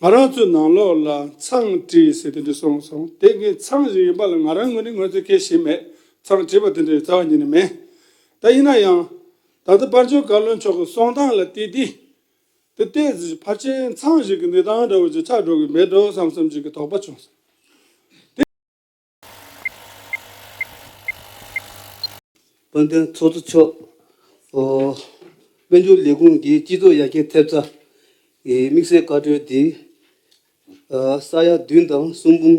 ང་རང་ཚོའི་ནང་ལོགས་ལ་མཚང་བྲིས་ཟེར་དེ་འདྲ་སོང་སོང་དེ་ངའི་མཚང་ཞིག་ཡིན་པ་ལ་ང་རང་ངོས་ནས་ངོ་ཚ་ཁེལ་བཞིན་མེད་མཚང་བྲིས་པ་དེ་འདྲ་ཡོད་ཚ་བ་ཉིད་ནས་མེད་ད་ཡིན་ན་ཡང། ད་ལྟ་དཔར་འབྱོར་བཀའ་བློན་མཆོག་གི་གསུང་སྟངས་ལ་བལྟས་དུས། དེ་ལྟའི་ཕར་ཆེར་མཚང་ཞིག་གི་འདི་སྟངས་འདྲ་བོ་ཅིག་ཆགས་འགྲོ་གི་མེད་འགྲོ་བསམ་བསམ་ཅིག་གི་དོགས་པ་བྱུང་སོང། དེ། དཔལ་ལྡན་ཚོགས་གཙོ་མཆོག་དབུས་འབྱོར་ལས་ཁུངས་ཀྱི་སྤྱི་ཚོགས་ཡར་རྒྱས་ཐེབས་རྩ་གི་དམིགས་བསལ་བཀའ་འཁྲོལ་དེ་ས་ཡ་བདུན་དང་གསུམ་འབུམ།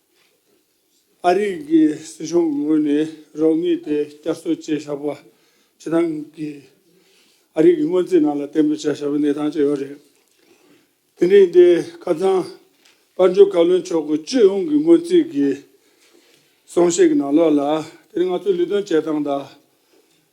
ཨ་རི་གི་སྲིད་གཞུང་གི་ངོས་ནས་རོགས་དངུལ་དེ་བསྐྱར་གསོ་བྱེད་བཞག་པ་ཇི་ལྟར་གི། ཨ་རི་གི་སྔོན་རྩིས་ནང་ལ་གཏན་འབེབས་བྱ་བཞག་པའི་གནས་སྟངས་ཅི་ཡོད་རེད། དེ་རིང་འདིར་ཁ་ཚང་དཔལ་འབྱོར་བཀའ་བློན་མཆོག་གི་སྤྱི་ཡོངས་ཀྱི་སྔོན་རྩིས་ཀྱི་གསུང་བཤད་ཀྱི་ནང་ལོགས་ལ་དེ་རིང་ང་ཚོས་ལུས་སྟོན་བྱེད་སྟངས་དང།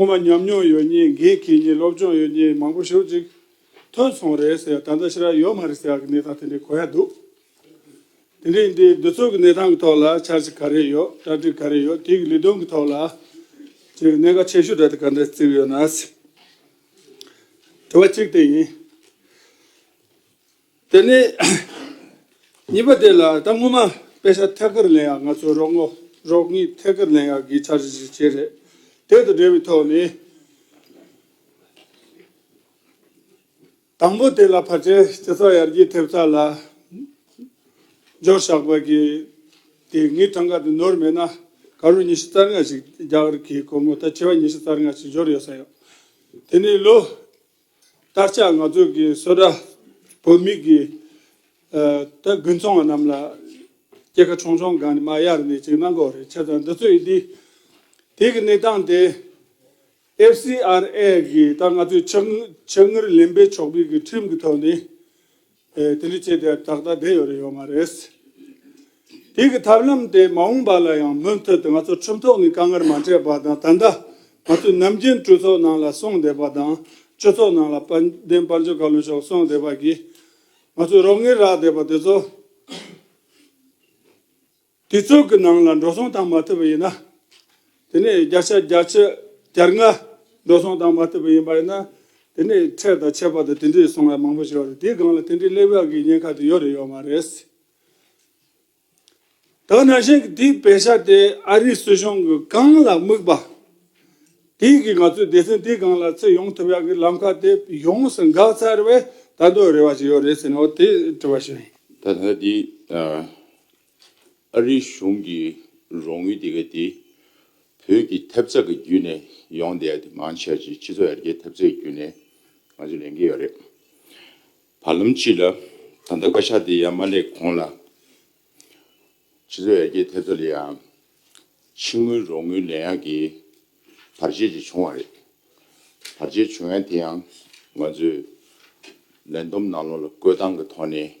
སྔོན་མ་ཉམས་མྱོང་ཡོད་ཉེས་འགེལ་གྱིས་ཉེས་སློབ་སྦྱོང་ཡོད་ཉེས་མང་པོ་ཞུ་ཅིག་ཐོན་སོང་རེད་ཟེར་ད་ལྟ་ཕྱི་ར་ཡོད་མ་རེད་ཟེར་གྱི་གནས་སྟངས་དེ་འདྲའི་གོ་ཡ་འདུག་དེ་འདྲའི་འདི་འདི་ཚོ་གི་གནས་སྟངས་གི་ཐོག་ལ་འཆར་གཞི་ག་རེ་ཡོད་གྲ་སྒྲིག་ག་རེ་ཡོད་དེ་གི་ལས་དོན་གི་ཐོག་ལ་ཅིག་གནད་འགག་ཆེ་ཤོས་གྲ་སྒྲིག་ག་འདྲ་བརྩིགས་ཡོད་ན། དྲི་བ་གཅིག་དེ་ཡིན། དེ་ནས་གཉིས་པ་དེ་ལ་ད་སྔོན་མ་དཔེ་ཆ་ཐད་ཀར་ལེན་ཡག་ང་ཚོའི་རོགས་ངོ་རོགས་གཉིས་ཐད་ཀར་ལེན་ཡག་གི་འཆར་གཞི་ཞིག་བྱས་རེད་དེ་དང་འབྲེལ་བའི་ཐོག་ནས། དང་པོ་དེ་ལ་བར་ཆད་སྤྱི་ཚོགས་ཡར་རྒྱས་ཐེབས་ཚད་ལ་འཇོག་ཞག་པ་གི་དེ་ངའི་ཐང་ག་དེ་ནོར་མེད་ན་ག་རུ་ཉི་ཤུ་རྩ་ལྔ་ཞིག་རྒྱག་རི་གི་སྒོར་མོ་ད་ཁྱི་བ་ཉི་ཤུ་རྩ་ལྔ་ཞིག་འབྱོར་ཡོད་ས་ཡོད་དེ་ནས་ལོ་སྟར་ཆགས་ང་ཚོ་གི་བསོད་གྲྭ་བོད་མི་གི་ད་དགུན་ཚོང་བ་རྣམས་ལ་སྐྱེ་ཁ་ཆོང་ཆོང་གང་ནས་མ་གཡར་ནས་ཅིག་གནང་གོ་རེ་ཆ་ཚང་འདི་ཚོ་ཡི་དི་དེ་གི་གནས་སྟངས་དེ FCRA གི་ད་ང་ཚོའི་ཆག་ཆག་ངར་ལེན་པའི་ཆོག་པའི་གི་ཁྲིམས་གི་ཐོག་ནས། དེ་ལས་ཆེས་དེར་ཏག་ཏག་བསྡད་ཡོད་རེ་ཡོད་མ་རེད། དེ་གི་ཐབས་ལམ་དེ་མ་འོངས་པ་ལ་ཡང་མུ་མཐུད་དུ་ང་ཚོ་ཁྲིམས་ཐོག་ནས་དཀའ་ངར་མ་སྤྲད་པ་དང་ད་ལྟ་ང་ཚོས་ནམ་རྒྱུན་གྲོས་ཚོགས་ནང་ལ་སོང་བསྡད་པ་དང་སྤྱི་ཚོགས་ནང་ལ་དཔལ་ལྡན་དཔལ་འབྱོར་བཀའ་བློན་མཆོག་སོང་བསྡད་པ་གིས་ང་ཚོས་རོགས་ངེས་རག་བསྡད་པ་དེ་ཚོ། དུས་ཚོད་ཀྱི་ནང་ལ་འགྲོ་སོང་བཏང་མ་ཐུབ་པ་ཡིན་ན། དེ་ནས་བརྒྱ་ཆ་བརྒྱ་ཆ་གྱར་ལྔ་འགྲོ་སོང་བཏང་མ་ཐུབ་པ་ཡིན་པ་ཡིན་ན། དེ་ནས་ཁྲལ་དང་ཆད་པ་དང་དེ་འདྲའི་སོང་ལས་མང་པོ་ཞིག་ཡོད་རེད་དེའི་སྒང་ལ་དེ་འདྲའི་གླེང་བ་གི་ཉེན་ཁ་དེ་ཡོད་རེད་ཡོད་མ་རེད། དང་ནང་བཞིན་གྱི་དེའི་བེ་ཤ་དེ་ཨ་རིའི་སྲིད་གཞུང་གི་སྒང་ལ་དམིགས་པ། དེའི་གི་ང་ཚོའི་སྡེ་ཚན་དེའི་སྒང་ལ་ཚེ་ཡོང་ཐུབ་ཡག་གི་ལམ་ཁ་དེ་ཡོངས་སུ་འགག་ཚར་བས་ད་དོ་རེ་བ་ཞིག་ཡོད་རེད་ཟེར་ནའོ་དེ་དྲི་བ་ཞིག། ད་ལྟ་དེའི་ཨ་རིའི་གཞུང་གི་རོགས་དངུལ་དེ་ག་དེ་བོད་ཀྱི་ཐེབས་རྩ་གི་བརྒྱུད་ནས་ཡོང་སྡད་དེ་མང་ཆེ་བ་ཅིག་སྤྱི་ཚོགས་ཡར་རྒྱས་ཐེབས་རྩའི་བརྒྱུད་ནས་ང་ཚོ་ལེན་གྱི་ཡོད་རེད། བར་ལམ་གཅིག་ལ་ད་ལྟ་བཀའ་ཤག་དེ་ཡར་མ་སླེབས་གོང་ལ་སྤྱི་ཚོགས་ཡར་རྒྱས་ཐེབས་རྩ་ལ་ཡང་ཕྱི་དངུལ་རོགས་དངུལ་ལེན་ཡག་གི་བར་ཆད་ཅིག་བྱུང་བ་རེད། བར་ཆད་བྱུང་ཡག་དེ་ཡང་ང་ཚོས་ལན་འདོམས་གནང་ལོང་ལ་བཀོད་སྟངས་གི་ཐོག་ནས་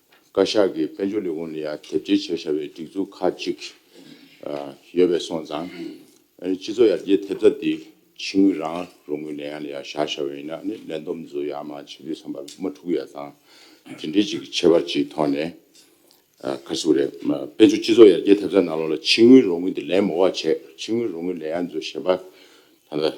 བཀའ་ཤག་གིས་དཔལ་འབྱོར་ལས་ཁུངས་ལ་ཡང་དེབ་སྐྱེལ་བྱེད་བཞག་པའི་སྒྲིག་འཛུགས་ཁག་ཅིག་ཡོད་པས་སོང་ཙང། སྤྱི་ཚོགས་ཡར་རྒྱས་ཐེབས་རྩ་དེ་ཕྱི་ངོས་རང་རང་གི་ལས་ཡང་ལ་ཡང་བཞག་བཞག་བས་ཡིན་ན་ནི་ལས་འདོམས་འཛུགས་ཡག་མ་བྱེད་དུས་བསམ་པ་མ་འཁྲུག་གི་ཡག་ཙང། དེ་འདྲའི་ཅིག་ཁྱད་པར་ཅིག་མཐོང་ནས། ཁ་སུ་རེད། དཔལ་འབྱོར་སྤྱི་ཚོགས་ཡར་རྒྱས་ཐེབས་རྩ་ནང་ལོགས་ལ་ཕྱི་ངོས་རང་ངོས་དེ་ལས་མོ་བ་བྱས་ཕྱི་ངོས་རང་ངོས་ལས་ཡང་འཛུགས་བཞེད་པ། ད་ལྟ།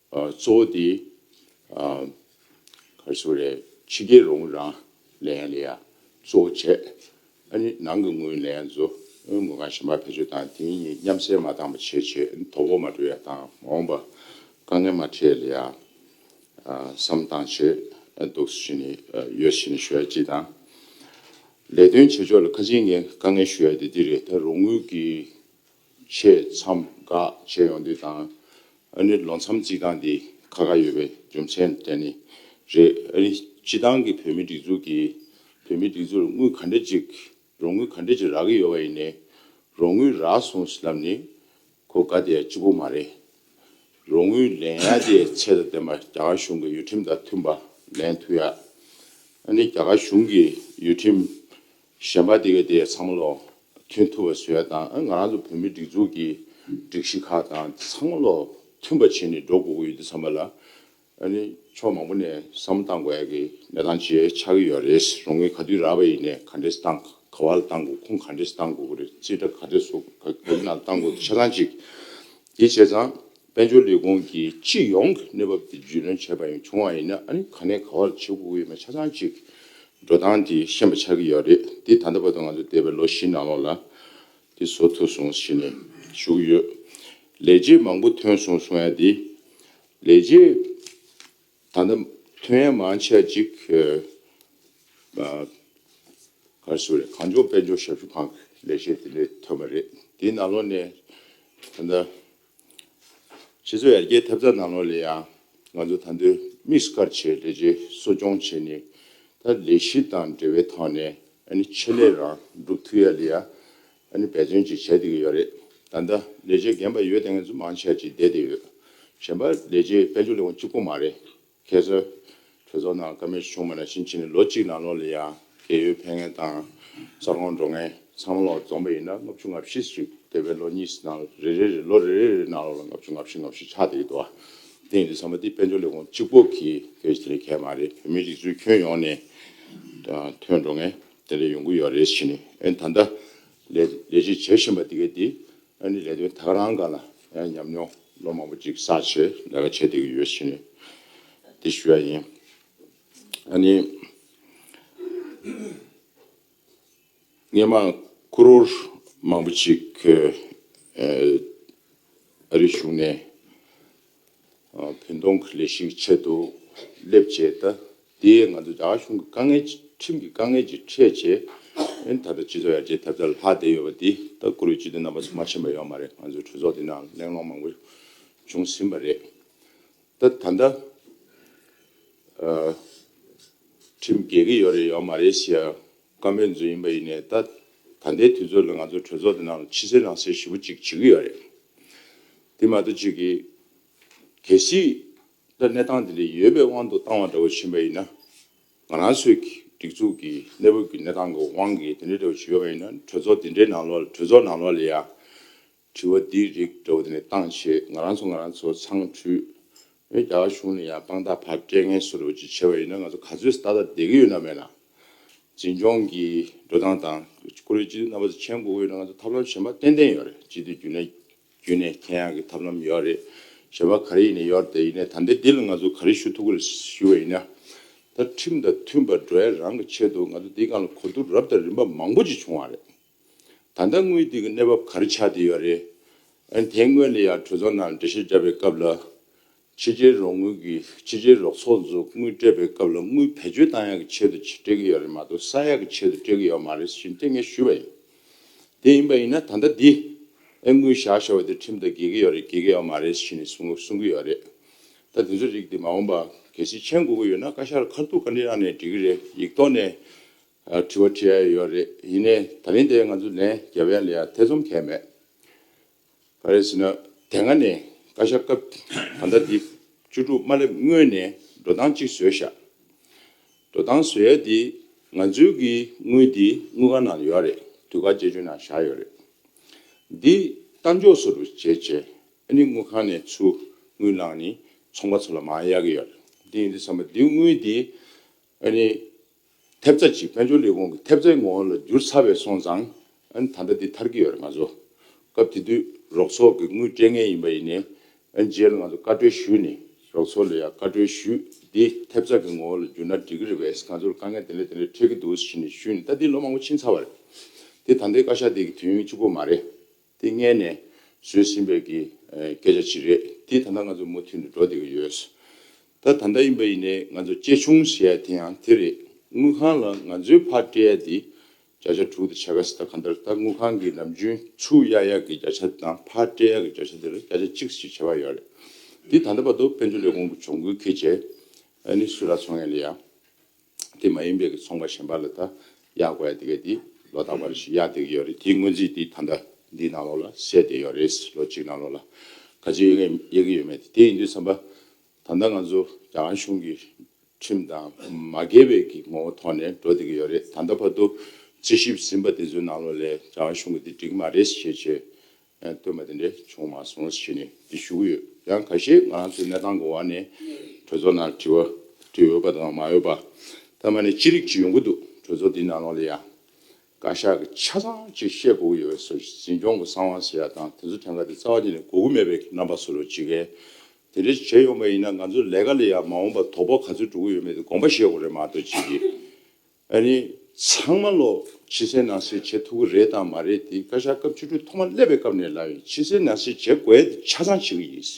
གཙོ་བོ་དེ། ཁར་སོ་རས་ཕྱི་རྒྱལ་རོང་རང་ལས་ཡང་ལས་ཡང་གཙོ་བོ་བྱས། ཨ་ནི་ནང་གི་ངོས་ལས་ཡང་བཟོ་ངོས་ཁང་གཞན་པ་བེད་སྤྱོད་དང་དེ་གཉིས་མཉམ་བསྲེས་མ་བཏང་བ་བྱས་བྱས་དོ་བོ་མ་འགྲོ་ཡ་དང་མ་འོངས་པ་དཀའ་ངལ་མ་འཕྲད་ལ་ཡ། བསམ་བཏང་བྱས་འདུག་བཞིན་ནི་ཡོད་བཞིན་ནི་ཞུ་ཡ་ཅི་དང། ལས་དོན་བྱེད་ཕྱོགས་ལ་ཁ་ཆེའི་ངས་དཀའ་ངལ་ཞུ་ཡ་དེ་འདི་རེད་ད་རོང་ངོས་ཀྱིས་ཆེས་མཚམས་འགག་བྱས་ཡོང་དུས་དང། ཨ་རིར་ལོ་མཚམས་བརྩིགས་སྟངས་དེ་ཁ་ཁ་ཡོད་པའི་རྒྱུ་མཚན་དེ་ནི་རེད། ཨ་རི་སྤྱི་བཏང་གི་བོད་མིའི་སྒྲིག་འཛུགས་ཀྱིས་བོད་མིའི་སྒྲིག་འཛུགས་ལ་དངུལ་ག་འདྲ་ཅིག་རོགས་དངུལ་ག་འདྲ་ཅིག་རག་གི་ཡོད་པ་ཡིན་ནའི། རོགས་དངུལ་རག་སོང་ཟེར་ལབ་ནི་གོ་དཀའ་དེ་ལྕི་པོ་མ་རེད། རོགས་དངུལ་ལེན་ཡ་དེ་ཚད་དང་ལྡན་པ་རྒྱ་གར་གཞུང་གི་ཡུལ་ཁྲིམས་དང་མཐུན་པ་ལེན་ཐུབ་ཡ། ཨ་ནི་རྒྱ་གར་གཞུང་གི་ཡུལ་ཁྲིམས་གཞན་པ་དེ་ག་དེའི་ཚང་མ་ལོ་མཐུན་ཐུབ་པ་བཟོས་ཡ་དང་ང་རང་ཚོ་བོད་མིའི་སྒྲིག་འཛུགས་ཀྱི་སྒྲིག་གཞི་ཁག་དང་ཚང་མ་ལོ་མཐུན་པ་བྱེད་ནས་འགྲོ་དགོས་ཀྱི་ཡོད་དུས་ཚང་མ་ལ་ཕྱོགས་མང་པོ་ནས་བསམ་བློ་བཏང་དགོས་ཡ་གི་གནས་སྟངས་ཇེ་ཆགས་ཀྱི་ཡོད་རེད་རང་ངོས་ག་དུས་ར་བ་ཡིན་ནས་ག་འདྲས་སུ་བཏང་ག་བ་ལ་བཏང་དགོས་ཁུངས་ག་འདྲས་སུ་བཏང་དགོས་ཀྱི་རེད་རྩིས་ཁྲ་ག་འདྲས་སུ་ག་གི་ནང་ལ་བཏང་དགོས་ཆ་ཚང་གཅིག་གིས་བྱས་ཙང་དཔལ་འབྱོར་ལས་ཁུངས་ཀྱིས་སྤྱི་ཡོངས་ཀྱི་གནས་བབ་དེ་རྒྱུས་ལོན་བྱས་པ་ཡང་བྱུང་བ་ཡིན་ན་ནི་ག་ནས་ག་བར་བྱེད་དགོས་ཀྱི་ཡོད་མེད་ཆ་ཚང་གཅིག་འགྲོ་སྟངས་དེ་ཤེས་པ་ཆགས་ཀྱི་ཡོད་རེད་དེ་ད་ལྟ་བར་དུ་ང་ཚོ་འདས་པའི་ལོ་བཞི་ནང་ལོགས་ལ་དེ་བཟོ་ཐུབ་སོང་ཟེར་ནས་བཞུགས་ཡོད། ལས་རྗེས་མང་པོ་ཐོན་སོང་གསུང་ཡ་དེ་ལས་རྗེས་ད་ལྟ་ཐོན་ཡ་མང་ཆ་གཅིག་ག་རེ་སོ་རེད་གངས་ལྗོངས་དཔལ་འབྱོར་ཞབས་ཞུ་ཁང་གི་ལས་བྱེད་དེ་འདྲས་ཐོན་པ་རེད་དེ་ནང་ལོགས་ནས་ད་ལྟ། ཁྱེད་ཚོས་ཡར་རྒྱས་ཐེབས་རྩ་གནང་ལོ་ལས་ཡང་ང་ཚོ་ད་འདོད་དམིགས་སུ་བཀར་བྱས་ལས་བྱེད་གསོ་སྐྱོང་བྱས་ནས་ད་ལས་གཞི་དང་འབྲེལ་བའི་ཐོག་ནས་ཆེད་ལས་རང་སྒྲུབ་ཐུབ་ཡ་ལས་ཡང་འབད་བརྩོན་ཅིག་བྱས་བསྡད་ཀྱི་ཡོད་རེད་ད་ལྟ་ལས་བྱེད་རྒན་པ་ཡོད་དེ་ངས་ཚོ་མང་ཆེ་བ་ཅིག་བསྡད་བསྡད་ཡོད་གཞན་པ་ལས་བྱེད་དཔལ་འབྱོར་ལས་ཁུངས་གཅིག་པོ་མ་རེད་ཁྱེད་ཚོས་གྲོས་ཚོགས་ནང་ཀ་མེད་བྱུང་མེད་ལ་ཕྱིན་ཅི་ནས་ལོ་གཅིག་ནང་ལོགས་ལ་ཡང་རྒས་ཡོལ་འཕེལ་ངེས་དང་གསར་ཁང་འགྲོ་ངེས་མཚམས་ལོགས་རྫོངས་པ་ཡིན་ན་ལྔ་བཅུ་ང་བཞི་བཅུ་འདས་པའི་ལོ་གཉིས་ནང་རེ་རེ་རེ་ལོ་རེ་རེ་རེའི་ནང་ལོགས་ལ་ལྔ་བཅུ་ང་བཞི་ང་བཞི་ཆགས་བསྡད་ཡོད་དོ། དེ་ཡིན་དུས་ཚང་མ་འདི་དཔལ་འབྱོར་ལས་ཁུངས་གཅིག་པོ་གིས་ཁེལ་བྱེད་མཁན་མ་རེད་བོད་མི་རིགས་ཚོའི་ཁྱོན་ཡོངས་ནས་ཐོན་འགྲོ་ངེས་དེ་འདྲ་ཡོང་གི་ཡོད་རེད་བྱས་ནས་ཨེ་ད་ལྟ་ལས་ལས་ཅིག་བྱེད་བཞིན་པ་འདི་གའི་འདི་ཨ་ནི་ལས་དོན་དག་རང་ག་ལ་ཡང་ཉམས་མྱོང་ལོ་མང་པོ་ཅིག་བསགས་ཆེད་ལས་ཀ་བྱེད་བསྡད་ཀྱི་ཡོད་ཕྱིན། འདི་ཞུ་ཡ་ཡིན། ཨ་ནི། ངས་མ་ཀུ་རོར་མང་པོ་ཅིག་ཨ་རིའི་གཞུང་ནས། བོད་གདོང་གི་ལས་ཤིག་ཆེད་དུ་སླེབས་བྱས་ད་ལྟའི་ང་ཚོ་རྒྱ་གཞུང་གི་དཀའ་ངལ་ཁྲིམས་ཀྱི་དཀའ་ངལ་གྱིས་ཁྲལ་བྱས་ཨེ་ད་ལྟ་སྤྱི་ཚོགས་ཡར་རྒྱས་ཐེབས་རྩ་ལ་ལྷག་བསྡད་ཡོད་པ་འདི་ལྟ་བཀུར་འོས་སྤྱི་འཐུས་རྣམ་པ་ཚོ་མ་ཤེས་པ་ཡོད་མ་རེད་ང་ཚོའི་གྲོས་ཚོགས་འདི་ནའང་གླེང་སློང་མང་པོ་བྱུང་ཟིན་པ་རེད་ད་ད་ལྟ་ཁྲིམས་རྒྱལ་གྱི་ཡོད་རེད་ཡོད་མ་རེད་ཞེས་བཀའ་མོལ་མཛོད་ཡིན་པ་ཡིན་ནའི་ད་ད་ལྟའི་དུས་ཚོད་ལ་ང་ཚོ་གྲོས་ཚོགས་འདི་ནའང་ཕྱི་གསལ་ནང་གསལ་ཞིབ་པོ་གཅིག་བྱེད་ཀྱི་ཡོད་རེད་དེ་མ་ཏོ་ཅིག་གིས། གལ་སྲིད། ད་གནས་སྟངས་འདི་ལས་ཡོལ་བའི་དབང་དུ་བཏང་བ་འདྲ་བོ་བྱིན་པ་ཡིན་ན། ང་རང་ཚོའི་སྒྲིག་འཛུགས་ཀྱི་གནས་བབ་ཀྱི་གནས་སྟངས་ཀྱི་དབང་གིས་དེ་འདྲ་འདྲ་བོ་བྱིན་ཡོད་པ་ཡིན་ན་གྲོས་ཚོགས་འདི་འདྲའི་ནང་ལོགས་ལ་གྲོས་ཚོགས་ནང་ལོགས་ལ་ཡང། དྲི་བ་འདི་རིགས་འདྲ་བོ་དེ་ནས་བཏང་ཆེད་ང་རང་ཚོ་ང་རང་ཚོ་ཚང་འཁྲུལ། ཨེ་རྒྱ་གར་གཞུང་ནས་ཡང་དཔང་རྟགས་ཕར་སྤྲད་ངན་གསོ་འདྲ་བོ་ཅིག་བྱས་པ་ཡིན་ན་ང་ཚོ་ག་ཚོད་ཏག་ཏག་བསྡད་ཀྱི་ཡོད་ན་མེད་ན། འཛིན་སྐྱོང་གི་འགྲོ་སྟངས་དང། ཁོ་རེ་སྤྱི་འཐུས་རྣམ་པ་ཚོ་མཆན་འགོད་ཀྱི་ཡོད་ན་ང་ཚོ་ཐབས་ལམ་གཞན་པ་ཏན་ཏན་ཡོད་རེད་སྤྱི་འཐུས་རྒྱུན་ལས། རྒྱུན་ནས་མཁྱེན་ཡག་གི་ཐབས་ལམ་ཡོད་རེད་ཞེས་པ་ག་རེ་ཡིན་ནས་ཡོད་དེ་ཡིན་ནས་ད་ལྟའི་འདི་ལ་ང་ཚོ་ག་རེ་ཞུ་ཐུབ་ཀི་རེད་ཞུ་བ་ཡིན་ན། ད་ཁྲིམས་དང་མཐུན་པར་འགྲོ་ཡ་རང་གི་ཆེད་དུ་ང་ཚོ་འདིའི་སྒང་ལ་གོ་བསྡུར་རབ་དང་རིམ་པ་མང་པོ་ཅིག་བྱུང་བ་རེད། ད་ལྟ་དངུལ་དེ་གི་གནས་བབ་ག་རེ་ཆགས་བསྡད་ཡོད་རེད། ཨན་དེ་སྔོན་ལ་ཡང་གྲོས་ཚོགས་ནང་འགྲེལ་བཤད་བརྒྱབ་པའི་སྐབས་ལ། ཕྱི་རྒྱལ་རོགས་དངུལ་གྱིས་ཕྱི་རྒྱལ་རོགས་ཚོགས་འཛུགས་དངུལ་སྤྲད་པའི་སྐབས་ལ་དངུལ་བེད་སྤྱོད་ཏང་ཡག་གི་ཆེད་དུ་སྤྲད་ཀྱི་ཡོད་རེད་མ་གཏོགས་ས་ཡག་གི་ཆེད་དུ་སྤྲད་ཀྱི་ཡོད་མ་རེད་ཞེས་མཚན་སྙན་ཞུས་པ་ཡིན། དེ་ཡིན་པ་ཡིན་ན་ད་ལྟ་འདིས་ཨེ་དངུལ་བཞག་བཞག་བ་དེ་ཁྲིམས་ལྟར་འགེལ་གྱི་ཡོད་རེད་འགེལ་གྱི་ཡོད་མ་རེད་ཞེས་ནས་གསུང་གསུང་གི་ཡོད་རེད། ད་དེ་ཚོའི་རིགས་དེ་མ་འོངས་པ་གལ་སྲིད་མཆན་དགོས་ཀྱི་ཡོད་ན་བཀའ་ཤག་ལ་ཁ་ཐུག་བཀའ་འདྲི་གནང་ནས་འདྲི་གི་རེད་ཡིག་ཐོག་ནས་དྲི་བ་དྲིས་ཡ་ཡོད་རེད་ཡིན་ནས་ད་རིང་དེ་ང་ཚོ་ལན་རྒྱབ་ཡ་ལས་ཡ་ཐེ་ཚོམ་གས་མེད། ཕ་རེས་ཟིན་ན་དེ་སྔ་ནས་བཀའ་ཤག་སྐབས་ད་ལྟ་འདི་བཅུ་དྲུག་མ་སླེབས་སྔོན་ནས་འགྲོ་སྟངས་གཅིག་བཟོས་བཞག་འགྲོ་སྟངས་བཟོས་ཡས་དེ་ང་ཚོའི་གི་དངུལ་དེ་དངུལ་ཁང་ནང་ཡོད་རེད་དུས་བཀག་བཅད་ཇུས་ནང་བཞག་ཡོད་རེད་འདི་གཏའ་འཇོག་སོ་རུ་བྱས་བྱས་ཨ་ནི་དངུལ་ཁང་ནས་ཚུར་དངུལ་བླངས་ནི་ཚོང་པ་ཚོ་ལ་མང་ཡག་གི་ཡོད་རེད་འདི་ཡིན་འདི་བསམ་པ་འདི་དངུལ་དེ་ཨ་ནི། ཐེབས་རྩ་གཅིག་དཔལ་འབྱོར་ལས་ཁུངས་ཀྱི་ཐེབས་རྩའི་ངོ་བོ་ལ་འགྱུར་ཚར་བས་སོང་ཙང། ཨ་ནི་ད་ལྟ་འདི་མཐར་གྱི་ཡོད་རེད་ང་ཚོ། སྐབས་དེ་དུས་རོགས་ཚོགས་ཀྱི་དངུལ་སྤྲད་ངེས་ཡིན་པ་ཡིན་ནས། ཨ་ནི་རྗེས་ལ་ང་ཚོ་བཀའ་འཁྲོལ་ཞུས་ནས་རོགས་ཚོགས་ལ་ཡང་བཀའ་འཁྲོལ་ཞུས། འདི་ཐེབས་རྩ་གི་ངོ་བོ་ལ་འགྱུར་ན་འགྲིག་གི་རེད་བས་ང་ཚོར་དཀའ་ངལ་དེ་འདྲ་དེ་འདྲ་འཕྲད་ཀྱི་འདུག་ཟེར་ནས་ཞུས་ནས་ད་འདི་ལོ་མང་པོ་ཕྱིན་ཚར་བ་རེད། དེ་ད་ལྟའི་བཀའ་ཤག་དེ་གི་དུས་ཡུན་གཅིག་པོ་མ་རེད། དེ་མངལ་ནས་བཟོས་ཟིན་པའི་གི་སྐད་ཆ་ཅིག་རེད་དེ་ད་ལྟ་ང་ཚོ་མུ་མཐུད་ནས་འགྲོ་བསྡད་ཀྱི་ཡོད། ད་ད་ལྟ་ཡིན་པ་ཡིན་ནས་ང་ཚོ་གཅེས་ཆུང་བྱེད་ཡ་དེ་ཡང་དེ་རེད་དངུལ་ཁང་ལ་ང་ཚོའི་ཕར་སྤྲད་ཡ་དེ་བརྒྱ་ཆ་དྲུག་དེ་ཆ་ག་སི་ད་ག་འདིར་ད་དངུལ་ཁང་གི་ནམ་རྒྱུན་ཚུགས་ཡ་ཡ་གི་བརྒྱ་ཆ་དང་ཕར་སྤྲད་ཡ་གི་བརྒྱ་ཆ་དེར་བརྒྱ་ཆ་གཅིག་ཞིག་བྱེད་པ་ཡོད་རེད་དེ་ད་ལྟ་བར་དུ་དཔལ་འབྱོར་ལས་ཁུངས་ཀྱི་གྱོང་གུད་ཁེ་ཆེ་ནི་སུ་ར་ཚོང་ཡ་ལི་ཡ་དེ་མ་ཡིན་པའི་གི་ཚོང་པ་གཞན་པ་ལ་ད་གཡག་གོ་ཡ་དེ་གའི་དེ་ལོ་ད་བར་ཞིག་གཡག་དེ་གི་ཡོད་རེད་དེའི་སྔོན་རྩིས་དེ་ད་ལྟ་འདིའི་ནང་ལོག་ལ་གསལ་དེ་ཡོད་རེད་ལོ་གཅིག་ནང་ལོག་ལ་ག་ཚོད་ཡོད་མཁན་ཡག་གི་ཡོད་མེད་དེ་དེ་ཡིན་དུས་བསམ་པ་ད་ལྟ་ང་ཚོ་རྒྱ་གར་གཞུང་གི་ཁྲིམས་དང་མ་འགལ་བའི་གི་ངོ་བོ་ཐོག་ནས་འགྲོ་དེ་གི་ཡོད་རེད་ད་ལྟ་བར་དུ་རྩིས་ཞིབ་ཟིན་པ་དེ་ཚོའི་ནང་ལོག་ལས་རྒྱ་གར་གཞུང་གི་དེ་འགྲིག་མ་རེད་ཞེས་བྱས་སྟོན་པ་དེ་འདྲ་བྱུང་མ་སོང་བྱས་ནས་འདི་ཞུ་གི་ཡོད་ཡང་ག་ཤེད་ང་ཚོའི་གནས་སྟངས་གོ་བ་ནས་གྲོས་ཚོགས་ནང་དྲི་བ་དྲིས་འོས་པ་དང་མ་འོས་པ་ཐ་མ་ནས་ཅི་རིགས་ཅིག་ཡོང་གི་འདུག་གྲོས་ཚོགས་འདིའི་ནང་ལོགས་ལ་ཡང་བཀའ་ཤག་གི་ཆ་ཚང་ཅིག་བཤད་དགོས་ཀྱི་ཡོད་པས་སོ་འཛིན་སྐྱོང་གི་གསང་བ་ཟེར་ཡག་དང་དེ་ཚོ་ཐེངས་འགའ་དེ་རྩ་བ་ཉིད་ནས་གོ་གི་མེད་པའི་རྣམ་པ་སོ་ལོ་ཇི་གས་དེ་འདྲ་བྱས་ཡོང་པ་ཡིན་ན་ང་ཚོ་ལས་ཀ་ལ་ཡང་མ་འོངས་པ་དོགས་པ་ག་ཚོད་འགྲོ་གི་ཡོད་མེད་དེ་དགོངས་པ་བཞེས་དགོས་རེད་མ་གཏོགས་ཅི་གི་ཨ་རི་ཚང་མ་ལོ་ཕྱི་གསལ་ནང་གསལ་བྱེད་ཐུབ་ཀྱི་རེད་དང་མ་རེད་དེ་བཀའ་ཤག་སྐབས་བཅུ་དྲུག་ཐོག་མ་སླེབས་པའི་སྐབས་ནས་ལབ་ཡིན་ཕྱི་གསལ་ནང་གསལ་བྱེད་དགོས་དེ་ཆ་ཚང་བྱེད་ཀྱི་ཡིན།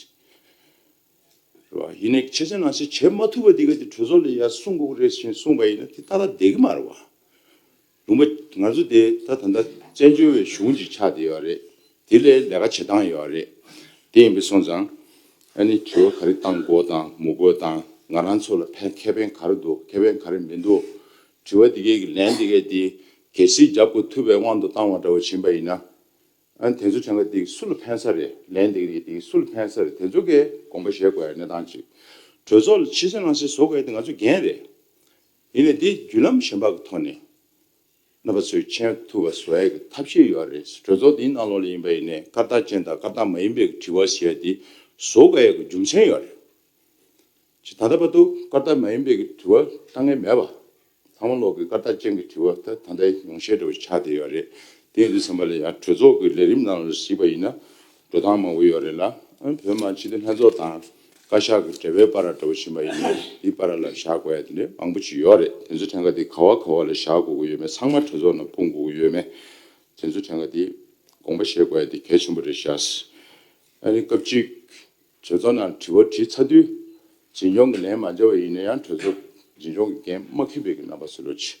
རེད་བ། ཡིན་ནས་ཕྱི་གསལ་ནང་གསལ་བྱེད་མ་ཐུབ་པ་དེ་ག་དེ་གྲོས་ཚོགས་ལས་ཡར་གསུངས་དགོས་ཀྱི་རེད་ཞེས་གསུངས་པ་ཡིན་ན་དེ་ད་ལྟ་བསྡད་ཀྱི་མ་རེད་བ། ལུང་པ། ང་ཚོ་དེ་ད་ད་ལྟ་བཙན་བྱོལ་བའི་གཞུང་གཅིག་ཆགས་བསྡད་ཡོད་རེད། དེ་ལས་ལས་ཀ་བྱེད་སྟངས་ཡོད་རེད། དེ་ཡིན་པའི་སོང་ཙང། ཨ་ནི་དྲི་བ་ག་རེ་བཏང་དགོས་དང་མི་དགོས་དང་ང་རང་ཚོ་ལ་ཕན་ཁེ་ཕན་ག་རེ་འདུག་ཁེ་ཕན་ག་རེ་མི་འདུག་དྲི་བ་དེ་གས་ཀྱི་ལན་དེ་གས་དེ་གལ་སྲིད་རྒྱབ་དགོས་ཐུབ་པའི་དབང་དུ་བཏང་བ་འདྲ་བོ་བྱིན་པ་ཡིན་ན། ཨ་ནི་དེ་ཚོ་བྱང་ག་དེ་གས་སུ་ལ་ཕན་ས་རེད་ལན་དེ་གས་དེ་གས་སུ་ལ་ཕན་ས་རེད་དེ་ཚོ་གས་དགོངས་པ་བཞེས་དགོས་ཡ་གནས་སྟངས་ཅིག་གྲོས་ཚོགས་ལ་ཕྱི་གསལ་ནང་གསལ་བཟོ་དགོས་ཡ་དེ་ང་ཚོ་འགན་རེད། ཡིན་ནས་དེ་བརྒྱུད་ལམ་གཞན་པ་གི་ཐོག་ནས། རྣམ་པ་ཚོས་མཁྱེན་ཐུབ་པ་བཟོ་ཡག་གི་ཐབས་ཤེས་ཡོད་རེད་གྲོས་ཚོགས་འདིའི་གནང་ལོག་ལས་ཡིན་པ་ཡིན་ནའི་སྐར་རྟགས་ཅན་དང་སྐར་རྟགས་མ་ཡིན་པའི་དྲི་བ་ཞེས་པ་འདི་བཟོ་དགོས་ཡག་གི་རྒྱུ་མཚན་ཡོད་རེད་ཅེ་ད་ལྟ་བར་དུ་སྐར་རྟགས་མ་ཡིན་པའི་གི་དྲི་བ་ལྟ་ངེས་མེད་པ་ཚང་མ་ལོག་གི་སྐར་རྟགས་ཅན་གི་དྲི་བ་ད་ད་ལྟའི་ཉུང་ཤས་འགྲོ་བའི་ཆ་དེ་ཡོད་རེད་དེ་འདི་ཚང་མ་ལ་ཡང་གྲོས་ཚོགས་ཀྱི་ལས་རིམ་ནང་ལ་གཟིགས་པ་ཡིན་ན་འགྲོ་སྟངས་མང་པོ་ཡོད་རེད་ལ། ཨ་བོད་མ་སྤྱི་བདེ་ལྷན་ཚོགས་དང་བཀའ་ཤག་གི་འབྲེལ་བའི་པ་ར་འདྲ་བོ་བཞིན་པ་ཡིན་ནའི་དེའི་པ་ར་ལ་བཞག་དགོས་ཡ་དེ་འདྲའི་མང་པོ་ཅིག་ཡོད་རེད་དེ་ཚོའི་ཕྲན་ག་དེ་ག་བ་ག་བ་ལ་བཞག་དགོས་ཀྱི་ཡོད་མེད་ཚང་མ་གྲོས་ཚོགས་ནང་སྤུངས་དགོས་ཀྱི་ཡོད་མེད་དེ་ཚོའི་ཕྲན་ག་དེ་དགོངས་པ་བཞེས་དགོས་ཡ་དེ་གལ་ཆེན་པོ་རེད་ཤག། ཨ་རིའི་སྐབས་གཅིག་གྲོས་ཚོགས་ནང་དྲི་བ་དྲིས་ཚར་དུས་འཛིན་སྐྱོང་གི་ལན་མ་འཇལ་བ་ཡིན་ན་ཡང་གྲོས་ཚོགས་འཛིན་སྐྱོང་གི་འགན་མ་ཁེ་བེད་ཀྱི་རྣམ་པ་སུ་ལོ་ཅི།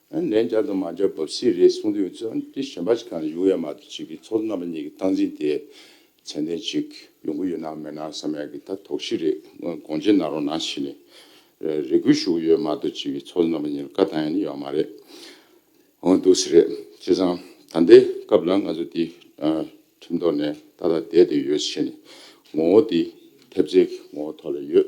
ཨ་ལན་བརྒྱ་དང་མ་འཇོག་བབས་སྲིད་རེད་གསུངས་དུས་ཨ་ཏི་ཞོན་པ་ཞིག་གང་ཡོང་ཡ་མ་ཏོ་ཅིག་གི་ཚོགས་གཙོ་རྣམ་པ་གཉིས་ཀྱི་སྟངས་འཛིན་དེ་ཚད་ལྡན་ཅིག་ཡོང་གི་ཡོད་ནའང་མེད་ནའང་བསམ་ཡག་གི་ད་དོགས་གཞི་རེད་སྔོན་དགོངས་བཅད་གནང་རོགས་གནང་ཞེས་ནས་རེ་སྐུལ་ཞུ་གི་ཡོད་མ་ཏོ་ཅིག་གི་ཚོགས་གཙོ་རྣམ་པ་གཉིས་ལ་བཀའ་བཏང་ཡ་ནི་ཡོད་མ་རེད་འོང་འདུག་སྲིད་རེད་བྱས་ཙང་ད་ལྟའི་སྐབས་ལ་ང་ཚོ་ཏི་ཁྲིམས་ཐོག་ནས་ཏག་ཏག་བསྡད་དེ་ཡོད་ཞེས་ནས་ངོ་བོ་ཏི་ཐེབས་རྩའི་ངོ་བོ་ཐོག་ལ་ཡོད་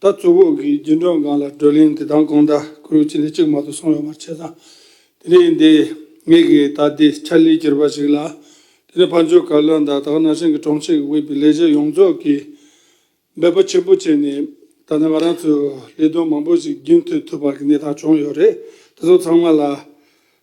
ད་གཙོ་བོ་གིས་རྒྱུན་གྲོན་སྒང་ལ་བགྲོ་གླེང་དེ་དང་གོང་ད་ཁུལ་གཅིག་ནས་གཅིག་མ་ཏུ་སོང་ཡོང་བར་བྱས་ཙང། དེ་ནས་ཡིན་ཏེ། ངེད་ཀྱི་ད་ལྟའི་ཆར་ལས་གྱུར་པ་ཞིག་ལ། དེ་ནི་ཕ་འབྱོར་བཀའ་བློན་དང་དག་སྣ་ཧྲེང་གི་དྲུང་ཆེ་གི་དབུས་པའི་ལས་བྱེད་ཡོངས་རྫོགས་ཀྱིས་འབད་པ་ཆེན་པོ་བྱས་ནས། ད་ལྟ་ང་རང་ཚོས་ལས་དོན་མང་པོ་ཞིག་རྒྱུན་མཐུད་ཐུབ་པ་གི་གནས་སྟངས་བྱུང་ཡོད་རེད། དེ་ཚོ་ཚང་མ་ལ།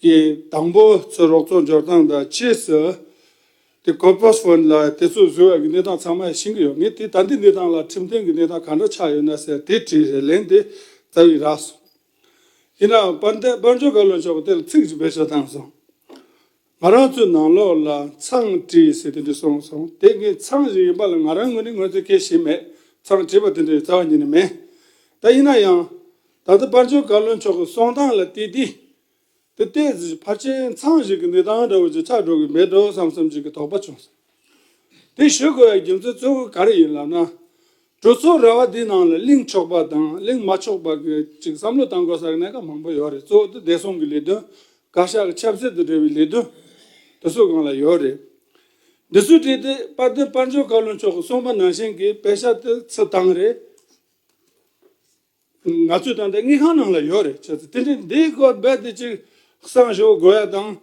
ཀྱི་དང་པོ་ཚུར་རོགས་ཚོགས་འབྱོར་སྟངས་དང་རྗེས་སུ་དེ་གོ་ཕོད་བོད་ལ་དེ་ཚོ་བཟོས་བའི་གནས་སྟངས་ཚང་མ་ཤེས་ཀྱི་ཡོད་ངེས་དེ་ད་འདི་གནས་སྟངས་ལ་ཁྲིམས་མཐུན་གྱི་གནས་སྟངས་གང་འདྲ་ཆགས་ཡོད་ན་ཟེར་དེ་དྲིས་རེ་ལན་དེ་རྩ་བའི་རགས་སོང། ཡིན་ནའང་དཔར་འདེབས་དཔར་འབྱོར་བཀའ་བློན་མཆོག་གི་དེ་ལ་ཚིག་གཅིག་བེད་སྤྱོད་བཏང་སོང། ང་རང་ཚོའི་ནང་ལོགས་ལ་མཚང་བྲིས་ཟེར་དེ་འདྲ་གསུངས་སོང་དེ་ངའི་མཚང་ཞིག་ཡིན་པ་ལ་ང་རང་ངོས་ནས་ངོས་འཛིན་སྐྱེ་བཞིན་མེད་མཚང་བྲིས་པ་དེ་འདྲ་ཡི་རྩ་བ་ཉིད་ནས་མེད། ད་ཡིན་ན་ཡང། ད་ལྟ་སྤར་ཆོས་བཀའ་བློན་མཆོག་གི་གསུང་སྟངས་ལ་བལྟས་དུས། འདི་ལྟའི་གཟིགས་ཕར་ཆེན་ཚང་ཞིག་གི་འདི་སྟངས་འདྲ་བོ་ཅིག་ཆགས་འགྲོ་གི་མེད་དོ་བསམ་བསམ་ཅིག་གི་དོགས་པ་བྱུང་སོང། དེ་ཞུ་དགོས་པའི་རྒྱུ་མཚན་གཙོ་བོ་ག་རེ་ཡིན་ལབ་ན། གྲོས་ཚོགས་ར་བ་འདིའི་ནང་ལ་གླེང་ཆོག་པ་དང་གླེང་མ་ཆོག་པ་གི་ཅིག་བསམ་བློ་བཏང་དགོས་ས་གནས་ཀ་མང་པོ་ཡོད་རེད་གཙོ་བོ་དེ་བདེ་སྲུང་གི་ལས་དོན་བཀའ་ཤག་གི་ཆབ་སྲིད་དང་འབྲེལ་བའི་ལས་དོན་དེ་ཚོ་གང་ལ་ཡོད་རེད། འདི་ཚོའི་ཁྲིད་དེ་དཔལ་ལྡན་སྤར་ཆོས་བཀའ་བློན་མཆོག་གི་གསུང་པ་ནང་བཞིན་གི་དཔེ་ཆ་དེ་ཚུད་སྟངས་རེད། ང་ཚོས་ད་ལྟ་དངུལ་ཁང་ནང་ལ་ཡོད་རེད་བྱས་ཚེ་དེ་འདྲའི་འདིའི་སྐོར་རྦད་དེ་གཅིག་གསང་ཞོག་དགོས་ཡ་དང།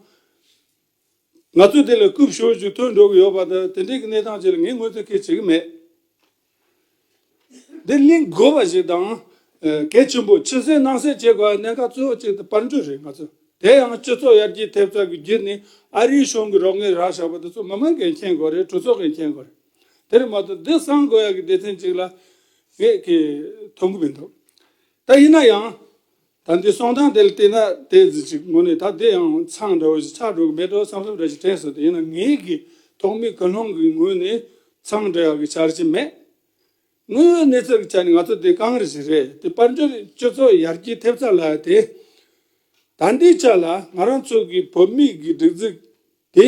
ང་ཚོས་དེ་ལ་རྐུབ་ཞོར་ཅིག་ཐོན་འགྲོ་གི་ཡོད་པ་དང་དེ་འདྲའི་གི་གནས་སྟངས་བཅས་ལ་ངས་དངོས་དོན་སྐད་བྱེད་ཀྱི་མེད། འདི་གླེང་དགོས་པ་ཞིག་དང། གལ་ཆེན་པོ་ཕྱི་གསལ་ནང་གསལ་བྱེད་དགོས་པའི་གནད་འགག་གཙོ་བོ་གཅིག་དང་དཔལ་འབྱོར་རེད་ང་ཚོ་དེ་ཡང་སྤྱི་ཚོགས་ཡར་རྒྱས་ཐེབས་ཚད་ཀྱི་རྒྱུ་ནི་ཨ་རིའི་གཞུང་གི་རོགས་དངུལ་རག་བཞག་པ་དེ་ཚོ་མི་མང་གིས་མཁྱེན་དགོས་རེད་གྲོས་ཚོགས་ཀྱིས་མཁྱེན་དགོས་རེད། དེར་མ་གཏོགས་འདི་གསང་དགོས་ཡག་གི་སྡེ་ཚན་གཅིག་ལ་ངས་ཀྱི་ཐོབ་གི་མི་འདུག་ད་ཡིན་ན་ཡང་ད་འདི་གསང་སྟངས་དེ་ལ་བལྟས་ན་དེ་ཟིག་ཅིག་ངོ་ནས་ད་འདི་ཡང་མཚང་འདྲ་བོ་ཞིག་ཆགས་འགྲོ་གི་མེད་དོ་བསམ་ཚུལ་འདྲ་ཞིག་དྲན་སོང་དེ་ཡིན་ན་ངས་ཀྱི་ཐོག་མའི་ཀུན་སློང་གི་ངོས་ནས་མཚང་འདྲ་ཡག་གི་བྱ་ར་ཅིག་མེད། དངོས་ཡོད་གནས་ཚུལ་གྱི་ཆ་ནས་ང་ཚོ་དེ་གངས་རི་ཞིག་རེད་དེ་དཔལ་འབྱོར་སྤྱི་ཚོགས་ཡར་རྒྱས་ཐེབས་ཚར་ལ་དེ་ད་འདིའི་ཆ་ལ་ང་རང་ཚོ་གི་བོད་མིའི་གི་སྒྲིག་འཛུགས་དེ་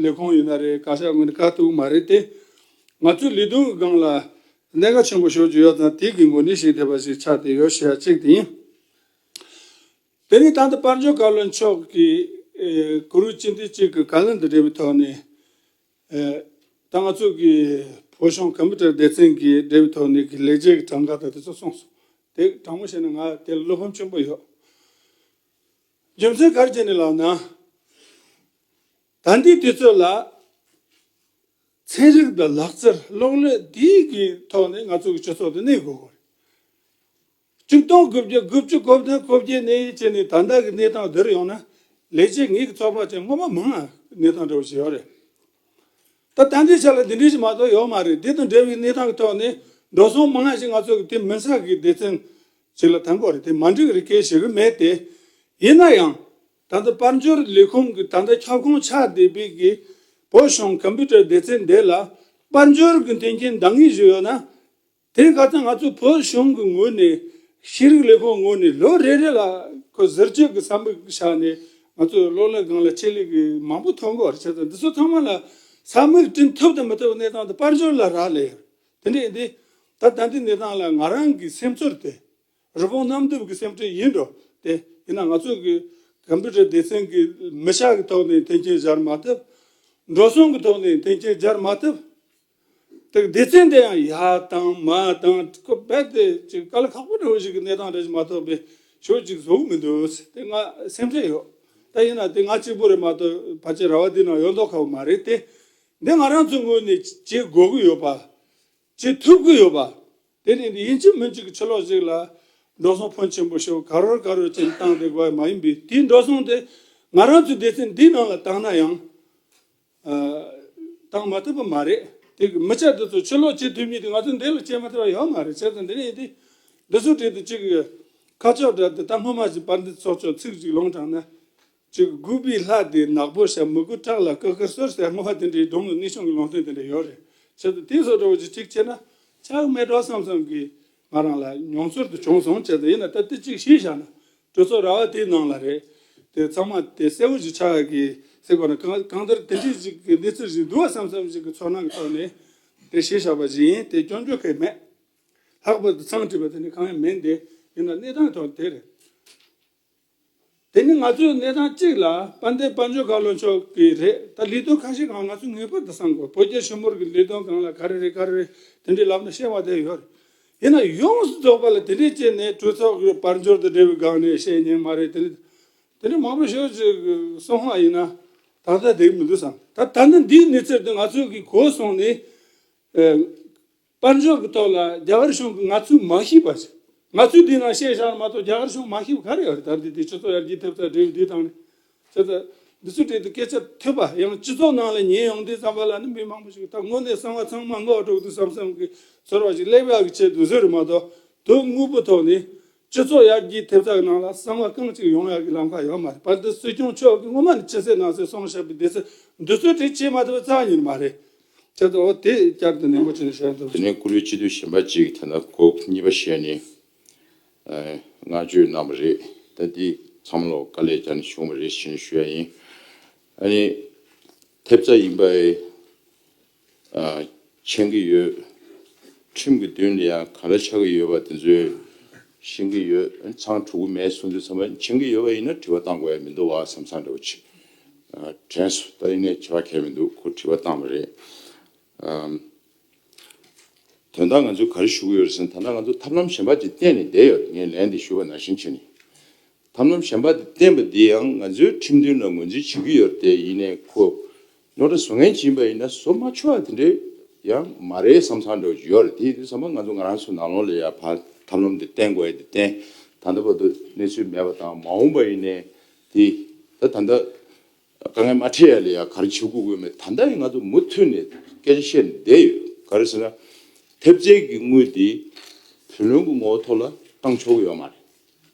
ལས་ཁུངས་ཡོད་ན་རེད་ག་ཤར་ངོས་ནས་དཀའ་སྡུག་མ་རེད་དེ། ང་ཚོའི་ལི་ཐུང་གི་སྒང་ལ། གནད་འགག་ཆེན་པོ་ཞོག་ཅིག་ཡོག་ཙང་དེའི་གི་འགོ་ནི་ཞིག་དེ་པ་ཞིག་ཆགས་དེ་ཡོག་ཤེ་ཡ་ཅིག་དེ་ཡིན། དེ་རིང་ད་ལྟ་དཔར་འབྱོར་བཀའ་བློན་མཆོག་གི། གུ་རུ་སྤྱི་འཐུས་གཅིག་གི་བཀའ་ལན་དུ་འབྲེལ་བའི་ཐོག་ནས། ད་ང་ཚོ་གི་བོད་གཞུང་གམ་པུ་ཏར་སྡེ་ཚན་གྱི་འབྲེལ་བའི་ཐོག་ནས་གི་ལེགས་སྐྱེས་ཀྱི་གྲངས་ཀ་དང་དེ་ཚོ་གསུངས་སོང། དེ་དྲང་མོ་བཤད་ན་ང་དེ་ལ་བློ་ཕམ་ཆེན་པོ་ཡོག། རྒྱུ་མཚན་གར་བྱས་ནས་ལགས་ན། དང་འདིའི་དུས་ཚོད་ལ། ཚན་རིག་དང་ལག་རྩལ་གློག་ཀླད་འདིའི་གི་ཐོག་ནས་ང་ཚོ་གི་སྤྱི་ཚོགས་དུ་གནས་དགོས་གོ། བཅུ་སྟོང་དགུ་བརྒྱ་དགུ་བཅུ་གོ་བདུན་གོ་བརྒྱད་ནས་བྱས་ནས་ད་ལྟ་གི་གནས་སྟངས་འདིར་ཡོང་ན་ལས་བྱེད་ངེད་ཀྱི་ཚོགས་པ་ཅན་སྔོན་མ་མང་ང་གནས་སྟངས་འདྲ་བོ་ཞིག་ཡོད་རེད། ད་ད་འདི་ཆ་ལ་འདི་འདྲའི་ཞིག་མ་གཏོགས་ཡོད་མ་རེད་འདི་དང་འདྲ་བའི་གནས་སྟངས་གི་ཐོག་ནས་འགྲོ་སོང་མང་ཞིག་ང་ཚོ་གི་དེ་མིན་ས་གི་སྡེ་ཚན་ཅིག་ལ་དང་པོ་རེད་དེ་མ་འགྲིག་རི་ཁའི་གཞི་རིམ་མེད་དེ། ཡིན་ན་ཡང། ད་ལྟ་དཔལ་འབྱོར་ལས་ཁུངས་ཀྱི་ད་ལྟ་ཁྱབ་ཁོངས་ཆགས་བསྡད་པའི་གི་བོད་གཞུང་ཀམ་པུ་ཏར་སྡེ་ཚན་འདི་ལ་དཔལ་འབྱོར་གྱི་མཐུན་རྐྱེན་འདང་ངེས་ཞིག་ཡོད་ན། དེ་ག་ཚོད་ང་ཚོ་བོད་གཞུང་གི་ངོས་ནས་ཤེས་རིག་ལས་ཁུངས་ངོས་ནས་ལོ་རེ་རེ་ལ་ཁོ་ཟུར་བཅོས་ཀྱི་བསམ་པ་བཞག་ནས་ང་ཚོ་སློབ་ལས་སྒང་ལ་ཆེད་ལས་ཀྱི་མང་པོ་ཐོན་གོ་རེ་བྱེད་ད་འདི་ཚོ་ཚང་མ་ལ་ས་མིག་བསྐྲུན་ཐུབ་དང་མི་ཐུབ་གནས་སྟངས་དེ་དཔལ་འབྱོར་ལ་རག་ལས་དེ་འདྲ་ཡིན་ཏེ། ད་ལྟ་འདི་གནས་སྟངས་ལ་ང་རང་གི་སེམས་ཚོར་དེ། རི་བོང་གནམ་རྡིབ་ཀྱི་སེམས་ཁྲལ་ཡིན་འགྲོ་སྟེ། ཡིན་ན་ང་ཚོ་གི Computer སྡེ་ཚན་གྱི་མི་ཤག་གི་ཐོག་ནས་འཐེན་འཁྱེར་སྦྱར་མ་ཐུབ། འགྲོ་སོང་གི་ཐོག་ནས་འཐེན་འཁྱེར་སྦྱར་མ་ཐུབ། དེ་སྡེ་ཚན་དེ་ཡང་ཡ་དང་མ་དང་ཁོ་རྦད་དེ་ཅིག་དཀའ་ལས་ཁག་པོ་འདྲ་བོ་ཞིག་གི་གནས་སྟངས་འདྲ་ཞིག་མ་ཐོབ་པའི་ཞོར་ཅིག་བཟོ་གི་མི་འདུག་དེ་ང་སེམས་ཁྲལ་ཡོད། ད་ཡིན་ན་དེ་ང་གཅིག་པུ་རེད་མ་གཏོགས་ཕལ་ཆེར་ར་བ་འདི་ནང་ཡོད་མདོག་ཁག་པོ་མ་རེད་དེ། འདི་ང་རང་ཚོའི་ངོས་ནས་བྱེད་དགོས་ཀྱི་ཡོད་པ། བྱེད་ཐུབ་ཀྱི་ཡོད་པ། དེ་ནི་ཡིན་གཅིག་མིན་གཅིག་གི་ཕྱི་ལོགས་ཤིག་ལ། འགྲོ་སོང་ཕོན་ཆེན་པོ་ཞིག་ག་རོལ་ག་རོལ་ཅན་བཏང་སྟེ་དགོས་མ་ཡིན་པའི་དེའི་འགྲོ་སོང་དེ་ང་རང་ཚོའི་སྡེ་ཚན་འདིའི་ནང་ལ་བཏང་ན་ཡང། བཏང་མ་ཐུབ་པ་མ་རེད། དེ་གི་མི་སྐྱ་དེ་ཚོ་ཕྱི་ལོགས་བྱེད་ཐུབ་ཉིན་དེ་ང་ཚོའི་འདི་ལ་བྱེད་མ་ཐུབ་པ་ཡོད་མ་རེད་བྱས་ཙང་འདི་ནས་ཡིན་དེ། འདི་ཚོའི་གྲས་དུ་གཅིག་གི། ཁ་ཕྱོགས་འདྲ་དེ་ད་སྔོན་མ་བཞིན་པར་འདི་ཚོགས་ཆོག་ཚིག་གཅིག་ལོང་དྲགས་ན། གཅིག་དགུ་པའི་ལྷ་དེ་ནག་པོ་ཞབས་མི་དགུ་ཁྲག་ལ་ཀ་ཀ་སོད་སོད་སྔོ་བ་དེ་འདྲའི་སྒྲོམ་ལ་གནས་ཆུང་གི་ལུང་སྟོན་དེ་འདྲ་ཡོད་རེད་ཆེད་དུ་དེ་སོགས་གྲོགས་ཀྱིས་ཅིག་བྱས་ན་ཆགས་མེད་གྲོགས་བསམ་བསམ་གིས་ང་རང་ལ་མྱོང་ཚོར་དུ་བྱུང་སོང་ཆེད་དུ་ཡིན་ན་ད་ལྟ་ཅིག་ཤེས་བཞག་ན་གྲོས་ཚོགས་ར་བ་དེའི་ནང་ལ་རེད་དེ་ཚང་མ་དེ་གསལ་བོ་ཞིག་ཆགས་གི་སྲིད་པ་ན་གང་ལྟར་དེ་འདྲའི་ཞིག་གི་གནས་ཚུལ་ཞིག་འདུག་བསམ་བསམ་ཞིག་གི་ཚོར་སྣང་གི་ཐོག་ནས་དེ་ཤེས་བཞག་པ་ཞིག་ཡིན་དེ་སྐྱོན་བརྗོད་མཁན་མེད་ལྷག་པར་དུ་ཚང་བྲིས་པ་དེ་འདྲ་གང་ཡང་མིན་དེ་ཡིན་ན་གནས་སྟངས་ཐོག་དེ་རེད། དེ་ནི་ང་ཚོའི་གནས་སྟངས་གཅིག་ལ་དཔལ་ལྡན་དཔལ་འབྱོར་ག་ལོ་མཆོག་གི་རེད་ད་ལས་དོན་ཁ་ཤས་གང་ང་ཚོས་ངེས་པར་དུ་བསམ་དགོས་བོད་རྒྱ་ཞི་མོར་གི་ལས་དོན་གང་ལ་ག་རེ་རེད་ག་རེ་རེད་དེ་འདྲའི་ལབ་ན་ཤེས་བ་དེ་ཡོད་རེད་ཡིན་ན་ཡོངས་སུ་རྫོགས་པ་ལ་དེ་འདྲའི་ཅི་ནས་གྲོས་ཚོགས་གི་དཔལ་འབྱོར་དང་འབྲེལ་བའི་སྒང་ནས་བཤད་ཉན་མ་རེད་དེ་འདྲ་དེ་འདྲ་མང་པོ་ཤོད་ཅིག་གསུང་ཧ་ཡིན་ན་ད་ལྟ་དེ་མི་འདུག་བསམ་ད་ད་ལྟ་འདིའི་གནས་ཚུལ་དེ་ང་ཚོས་གིས་གོ་སོང་ནས། དཔལ་འབྱོར་གྱི་ཐོག་ལ་རྒྱ་གར་གཞུང་གིས་ང་ཚོས་མ་ཤེས་པ་ཞིག་ང་ཚོས་དེ་ནང་ཤེས་བཞག་ན་མ་གཏོགས་རྒྱ་གར་གཞུང་མ་ཤེས་པ་ག་རེ་ཡོད་རེད་ད་ལྟའི་དུས་སྤྱི་ཚོགས་ཡར་རྒྱས་ཐེབས་རྩ་འབྲེལ་ཡོད་དུས་དང་ནས་ད་ལྟ་འདི་ཚོའི་གྲས་དུ་སྐད་ཆ་ཐོས་པ་ཡང་སྤྱི་ཚོགས་ནང་ལ་ཉན་ཡོང་དུས་བསམ་པ་ལ་ནི་མི་མང་པོ་ཞིག་ད་དངོས་གནས་གསང་བ་ཚང་མ་སྔོག་འགྲོ་གི་འདུག་བསམ་བསམ་གྱི་ཚོར་བ་ཞིག་སླེབས་ཡག་གི་ཆེད་དུ་ཟེར་རེད་མ་གཏོགས་དོན་དངོས་པོ་ཐོག་ནས་སྤྱི་ཚོགས་ཡར་རྒྱས་ཐེབས་རྩ་གི་ནང་ལ་གསང་བ་རྐང་གཅིག་ཡོང་ཡག་གི་ལམ་ཁ་ཡོད་མ་རེད་བར་དུ་སྲིད་སྐྱོང་མཆོག་གིས་སྔོན་མ་ནས་ཕྱི་གསལ་ནང་གསལ་གསུངས་བཞག་པའི་སྡེ་ཚན་འདི་ཚོད་འབྲེལ་བྱས་མ་ཐུབ་པའི་རྩ་བ་ཉིད་མ་རེད་ཁྱེད་ཚོ་དེ་བསྐྱར་དུ་ནན་པོ་བྱས་ནས་བཤད་འདོད། དེ་ནས་བཀུར་འོས་སྤྱི་འཐུས་གཞན་པ་གཅིག་དེ་འདྲ་གོ་གཉིས་པ་ཞེས་ནས་བསྔགས་བརྗོད་གནང་བ་རེད་ད་འདི་ཚང་མ་ལ་དཀའ་ལས་བརྒྱབ་ནས་བྱུང་བ་རེད་ཞེས་ཞུ་ཡ་ཡིན། ཨ་ནི་ཐེབས་རྩ་ཡིན་པ། མཁྱེན་གྱི་ཡོད། ཁྲིམས་ཀྱི་མདུན་དུ་ཡང་ག་རེ་ཆགས་ཀྱི་ཡོད་པ་དེ་ཚོའི་ཤེས་ཀྱི་ཡོད། ཚང་དྲུག་གི་མའི་གསུང་ཚིག་ཚང་མ་མཁྱེན་གྱི་ཡོད་པ་ཡིན་ན་དྲི་བ་བཏང་དགོས་ཡ་མི་འདུག་བ་སེམས་བཟང་འདྲ་བོ་བྱེད། དྲན་སོ་ད་རིང་ནས་བྱ་བ་གལ་མི་འདུག་ཁོ་དྲི་བ་བཏང་བ་རེད། དོན་དག་ང་ཚོས་ག་རེ་ཞུ་གི་ཡོད་རེད་ཟེར་ན་ད་ལྟ་ང་ཚོ་ཐབས་ལམ་གཞན་པ་དེ་བསྟེན་ནས་བསྡད་ཡོད་རེད་ངས་ལན་དེ་ཞུ་བ་ནང་བཞིན་བྱས་ནས། ཐབས་ལམ་གཞན་པ་དེ་བསྟེན་པ་དེ་ཡང་ང་ཚོའི་ཁྲིམས་མཐུན་ལ་ངོས་འཛིན་བྱེད་ཀྱི་ཡོད་རེད་དེ་ཡིན་ནས་ཁོ་ནོར་དང་བཟོ་ངན་བྱིན་པ་ཡིན་ན་བཟོ་མ་ཆོག་དེ་འདྲས་ཡང་མ་རེད་བསམ་ཚར་འདུག་ཡོད་རེད་དེ་བསམ་པ་ང་ཚོ་ང་རང་ཚོའི་ནང་ལོག་ལས་ཡར་ཕར་ཐབས་ལམ་དེ་བསྟེན་དགོས་ཡ་དེ་བསྟེན་ད་ལྟ་བར་དུ་གནས་ཚུལ་མེད་པ་དང་མ་འོངས་པ་ཡིན་ནའི་དེ་ད་ད་ལྟ་དཀའ་ངལ་མ་འཕྲད་ཡ་ལས་ཡར་ག་རེ་བྱེད་དགོས་དགོས་མེད་ད་ལྟ་ཡང་ང་ཚོ་མུ་མཐུད་ནས་སྐད་ཆ་བཤད་ནས་བསྡད་ཡོད་ག་རེ་ཟེར་ན་ཐེབས་རྩལ་གྱི་དངུལ་དེ་བུ་ལོན་གྱི་ངོ་བོ་ཐོག་ལ་བཏང་ཆོག་གི་ཡོད་མ་རེད་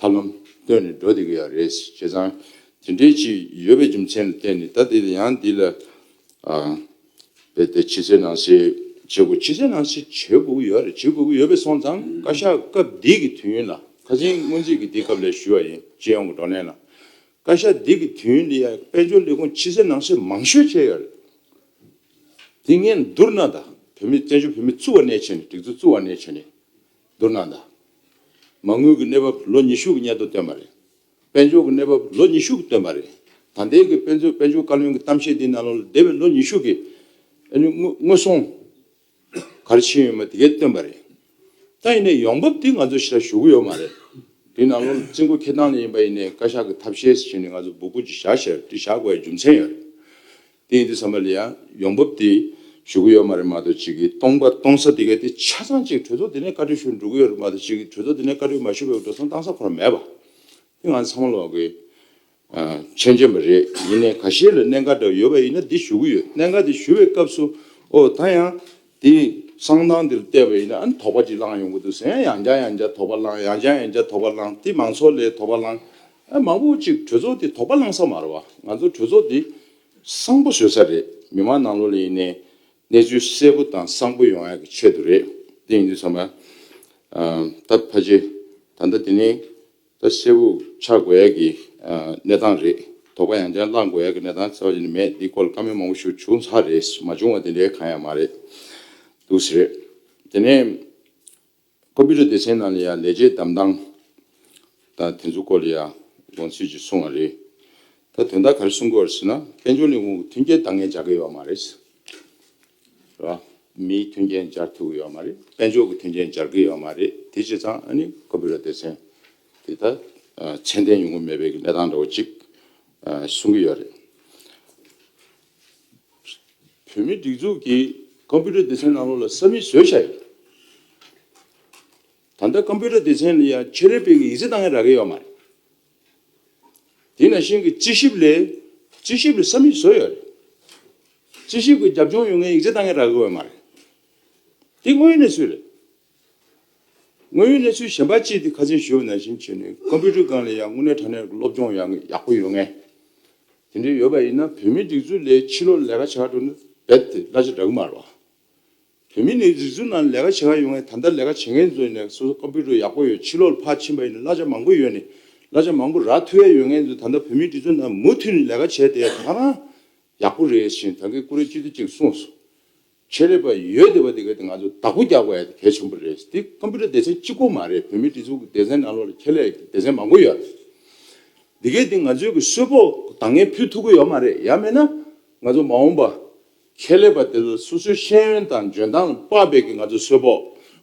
ཐབས་ལམ་བཏོན་ནས་འགྲོ་བསྡད་ཀྱི་ཡག་རེད་བྱས་ཙང་དེ་འདྲའི་ཅིག་ཡོད་པའི་རྒྱུ་མཚན་ལ་བརྟེན་ནས་ད་འདི་ལ་ཡང་འདི་ལ་རྦད་དེ་ཕྱི་གསལ་ནང་གསལ་བྱེད་དགོས་ཕྱི་གསལ་ནང་གསལ་བྱེད་དགོས་ཀྱི་ཡོད་རེད་བྱེད་དགོས་ཀྱི་ཡོད་པས་སོང་ཙང་བཀའ་ཤག་སྐབས་འདི་གི་དུས་ཡུན་ལ་ཁ་ཆེན་སྔོན་རྩིས་ཀྱི་འདི་སྐབས་ལས་ཞུས་བ་ཡིན་སྤྱི་ཡོངས་ཀྱི་བགྲོ་གླེང་ལ། བཀའ་ཤག་འདི་གི་དུས་ཡུན་འདི་ཡང་དཔལ་འབྱོར་ལས་ཁུངས་ཕྱི་གསལ་ནང་གསལ་མང་ཤོས་བྱས་ཡོད་རེད་དེ་ངས་བསྡུར་ན་ད་བོད་མི་བཙན་བྱོལ་བོད་མི་བཙུགས་བ་ནས་བྱས་ནས་སྒྲིག་འཛུགས་བཙུགས་བ་ནས་བྱས་ནས། བསྡུར་གནང་དང། མ་དངུལ་གྱི་གནས་བབ་ལོ་ཉི་ཤུ་གྱི་སྙན་ཐོ་བཏོན་པ་རེད། དཔལ་འབྱོར་གྱི་གནས་བབ་ལོ་ཉི་ཤུ་གྱི་བཏོན་པ་རེད། ད་ལྟའི་གི་དཔེ་མཚོན་དཔལ་འབྱོར་བཀའ་བློན་གྱི་གཏམ་བཤད་འདིའི་ནང་ལོ་འདས་པའི་ལོ་ཉི་ཤུ་གྱི་དངོས་ཟོང་ག་རེ་ཕྱིན་ཡོད་མེད་དེ་གའི་བཏོན་པ་རེད། ད་ཡིན་ནའི་ཡོང་འབབ་དེ་ང་ཚོ་ཞིག་ལ་ཞུ་གི་ཡོད་མ་རེད། དེའི་ནང་ལོ་རྩིས་འགོ་འཁྱེར་སྟངས་ལ་ཡིན་པ་ཡིན་ནའི་བཀའ་ཤག་གི་ཐབས་ཤེས་སུ་བྱས་ནས་ང་ཚོ་སྦུ་གུ་ཅིག་བཞག་ཞེས་པ་དེ་བཞག་དགོས་པའི་རྒྱུ་མཚན་ཡོད་རེད། དེ་ཡིན་དུས་ས་མ་ལི་ཡང་ཡོང་འབབ་དེ་ཞུ་གི་ཡོད་མ་རེད་མ་གཏོགས་ཅིག་གིས་སྟོང་པར་གཏོང་ས་དེ་ག་དེ་ཆ་ཚང་ཅིག་གྲོས་ཚོགས་དེ་ནས་བཀའ་ཁྲི་ཞུ་འགྲོ་གི་ཡོད་རེད་མ་གཏོགས་ཅིག་གིས་གྲོས་ཚོགས་དེ་ནས་བཀའ་ཁྲི་མ་ཞུ་བའི་འགྲོ་སོང་བཏང་ས་ཁོ་ན་མེད་པ། དེ་ང་ཚང་མ་ལ་བ་གོས་ཆེན་ཆེན་པ་རེད་ཡིན་ནའི་ག་ཤེད་ལ་གནད་འགག་འདྲ་ཡོད་པ་ཡིན་ན་དེ་ཞུ་གི་ཡོད་གནད་འགག་དེ་ཞུ་བའི་སྐབས་སུ་ཨོ་ད་ཡང་དེ་གསང་སྟངས་འདིར་བལྟས་པ་ཡིན་ན་དོགས་པ་ཅིག་བསླང་ཡོང་གི་འདུག་ཟེར་ཡང་ཡང་བསྐྱར་ཡང་བསྐྱར་དོགས་པ་བསླང་ཡང་བསྐྱར་ཡང་བསྐྱར་དོགས་པ་བསླང་དེ་མང་ཚོགས་ལས་དོགས་པ་བསླང་ཨ་མང་པོ་ཅིག་གྲོས་ཚོགས་འདི་དོགས་པ་བསླང་ས་མ་རེད་བ་ང་ཚོ་གྲོས་ཚོགས་འདི་གསང་པོ་བཟོས་ས་རེད་མི་མང་ནང་ལོག་ལ་ཡིན་ནའི་གནས་ཚུལ་གསལ་པོ་དང་གསང་པོ་ཡོང་ཡག་གི་ཆེད་དུ་རེད་དེ་ཡིན་དུས་ཚང་མ་ད་ཕ་ཆེ་ད་ལྟ་དེ་ནས་ད་གཤེ་བོ་ཆགས་དགོས་ཡས་ཀྱི་གནས་སྟངས་རེད། དོགས་པ་ཡང་ཅན་བསླང་དགོས་ཡས་ཀྱི་གནས་སྟངས་ཚད་བ་ཅི་ནས་མེད་འདི་སྐོར་ལ་བཀའ་མོལ་མང་པོ་ཞུ་བྱུང་ཚར་རེད་མ་བྱུང་བ་དེ་འདྲའི་གང་ཡང་མ་རེད་འདུག་ཟེར། དེ་ནས་ཀོ་བི་རུ་སྡེ་ཚན་ནང་ལ་ཡང་ལས་བྱེད་གདམ་སྟངས་དང་དེ་ཚོ་སྐོར་ལ་ཡང་དགོངས་ཚུལ་ཅིག་གསུང་བ་རེད། ད་དོན་དག་ག་རེ་གསུང་དགོས་རེད་ཟེར་ན་དཔལ་འབྱོར་ནི་དབུ་མཐུན་རྐྱེན་འདང་ངེས་བྱ་དགོས་ཡས་མ་རེད། ར། མིའི་མཐུན་རྐྱེན་སྦྱར་ཐུབ་ཀྱི་ཡོད་མ་རེད། དཔལ་འབྱོར་གྱི་མཐུན་རྐྱེན་སྦྱར་གྱི་ཡོད་མ་རེད། དེ་བྱས་ཙང་ཨ་ནི་ཁོ་བོས་ར་སྡེ་ཚན་དེ་དག་ཚད་ལྡན་ཡོང་གི་མེད་པའི་གནས་སྟངས་འདྲ་བོ་ཅིག་གསུང་གི་ཡོད་རེད། བོད་མིའི་སྒྲིག་འཛུགས་ཀྱིས་ཀམ་པུའུ་ཏར་སྡེ་ཚན་ནང་ལོགས་ལ་ས་མིག་བཟོས་བཞག་ཡོད། ད་ལྟ་ཀམ་པུའུ་ཏར་སྡེ་ཚན་ལ་ཡང་ཆེད་ལས་སྤེལ་གྱི་ཡིག་རྩིས་བཏང་ཡང་རག་གི་ཡོད་མ་རེད། དེས་ན་ཤིང་གི་དཔྱད་ཞིབ་ལས་དཔྱད་ཞིབ་ལ་ས་མིག་བཟོ་ཡོད་རེད། དཔྱད་ཞིབ་ཀྱི་རྒྱབ་ལྗོངས་ཡོད་མཁན་ཡིག་ཆ་གཏང་མཁན་རག་དགོས་པ་མ་རེད། དེ་དངོས་ཡོད་གནས་ཚུལ་རེད། དངོས་ཡོད་གནས་ཚུལ་གཞན་པ་ཅིག་དེ་ཁ་ཚོན་ཞུ་བ་ནང་བཞིན་བྱས་ནས་ཀོམ་པུའུ་ཏར་སྒང་ལ་ཡང་དངོས་གནས་དྲ་གནས་ཀྱི་སློབ་སྦྱོང་ཡག་པོ་ཡོད་མཁན་དེ་འདྲ་ཡོད་པ་ཡིན་ན་བོད་མིའི་སྒྲིག་འཛུགས་ལས་ཕྱི་ལོག་ལས་ཀ་བྱ་འགྲོ་ན་རྦད་དེ་གླ་ཆ་འདྲ་གི་མ་རེད། བོད་མི་ནི་རིག་གཟུགས་ནང་ལས་ཀ་བྱེད་ཁ་ཡོང་ངས་ད་ལྟ་ལས་ཀ་བྱེད་མཁན་ཚོ་ནས་སོ་སོ Computer ཡག་པོ་ཡོད་ཕྱི་ལོག་ལ་ཕར་ཕྱིན་པ་ཡིན་ན་གླ་ཆ་མང་པོ་ཡོད་ནས་གླ་ཆ་མང་པོ་རག་ཐུ་ཡ་ཡོད་མཁན་ཚོ་ད་ལྟ་བོད་མི་འདི་ཚོ་ནང་མུ་འཐུད་ནས་ལས་ཀ་བྱས་བསྡད་ཡོད་ང་རང་ཡག་པོ་རེད་བཞིན་ད་གེ་ཀུ་རེ་ཅི་ཏི་ཅིག་གསུངས་སོང། ཁྱེད་ལས་པ་ཡོད་བསྡད་པ་དེ་ག་དེ་ང་ཚོ་བདག་པོ་རྒྱག་པ་ཡ་དེ་གལ་ཆེན་པོ་རེད་དེ Computer སྡེ་ཚན་གཅིག་པོ་མ་རེད་བོད་མི་འདི་ཚོ་གི་སྡེ་ཚན་ནང་ལོག་ལ་ཁྱེད་ལས་ཀྱི་སྡེ་ཚན་མང་པོ་ཡོད་རེད། དེ་གས་དེ་ང་ཚོའི་གི་གསོལ་ཕོགས་དང་ངས་ཕུལ་ཐུབ་ཀི་ཡོད་མ་རེད་ཡ་མེད་ན་ང་ཚོ་མ་འོངས་པ་ཁེ་ལས་པ་དེ་ཚོ་སོ་སོའི་ཤེས་ཡོན་དང་འཇོན་ཐང་དཔག་པའི་གི་ང་ཚོ་སོས་པོ་